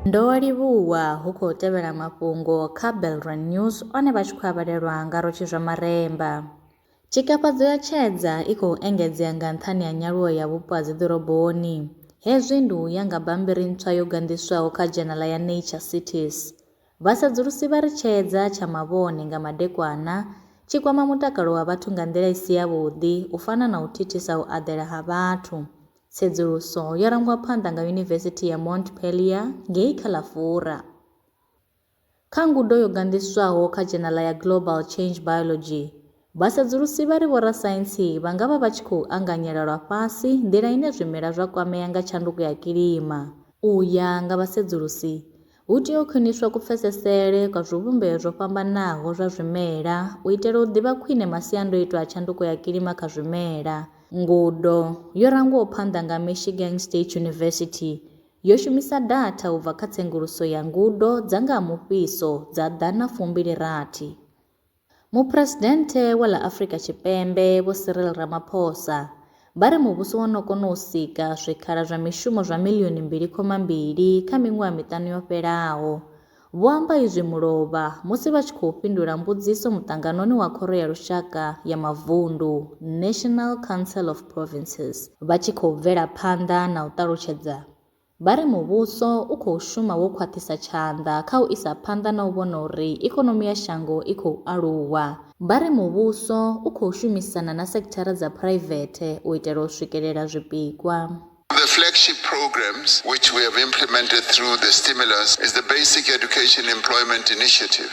Ndo livhuwa hu khou tevhela mafhungo kha Belrand News one vha tshi khou avhalelwa nga Rotshi zwa Maremba. Tshikafhadzo ya tshedza i khou engedzea nga nṱhani ha nyaluwo ya vhupo ha dziḓoroboni. Hezwi ndi u ya nga bammbiri ntswa yo ganḓiswaho kha dzhenala ya Nature Cities. Vhasedzulusi vha ri tsheedza tsha mavhone nga madekwana tshi kwama mutakalo wa vhathu nga nḓila i si yavhuḓi u fana na u thithisa u aḓela ha vhathu. Tsedzuluso yo rangwa phanḓa nga Yunivesithi ya Montpellier ngei kha ḽa Fura. Kha ngudo yo ganḓiswaho kha dzhenala ya Global Change Biology, Vhasedzulusi vha ri vhorasaintsi vha nga vha vha tshi khou anganyela lwa fhasi nḓila ine zwimela zwa kwamea nga tshanduko ya kilima. U ya nga vhasedzulusi, hu tea u khwiniswa kupfesesele kwa zwivhumbeo zwo fhambanaho zwa zwimela u itela u ḓivha khwine masiandoitwa a tshanduko ya kilima kha zwimela. Ngudo yo rangwaho phanḓa nga Michigan State University yo shumisa datha u bva kha tsenguluso ya ngudo dza nga ha mufhiso dza ḓana fumbili rathi. Muphuresidennde wa ḽa Afrika Tshipembe Vho Cyril Ramaphosa vha ri muvhuso wo no kona u sika zwikhala zwa mishumo zwa miḽioni mbili khoma mbili kha miṅwaha miṱanu yo fhelaho. Vho amba izwi mulovha musi vha tshi khou fhindula mbudziso muṱanganoni wa Khoro ya Lushaka ya Mavundu, National Council of Provinces, vha tshi khou bvela phanḓa na u ṱalutshedza Vha ri muvhuso u khou shuma wo khwaṱhisa tshanḓa kha u isa phanḓa na u vhona uri ikonomi ya shango i khou aluwa. Vha ri muvhuso u khou shumisana na sekithara dza phuraivethe u itela u swikelela zwipikwa. The flagship programs which we have implemented through the stimulus is the Basic Education Employment Initiative,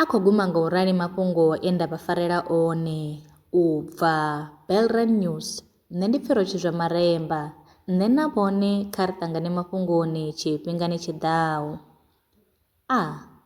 A khou guma nga u rali mafhungo e nda vha farela one. U bva, Belrand News, Nṋe ndi Pfiro Tshizwamaremba, nṋe na vhone kha ri ṱangane mafhungoni tshifhingani tshi ḓaho. A.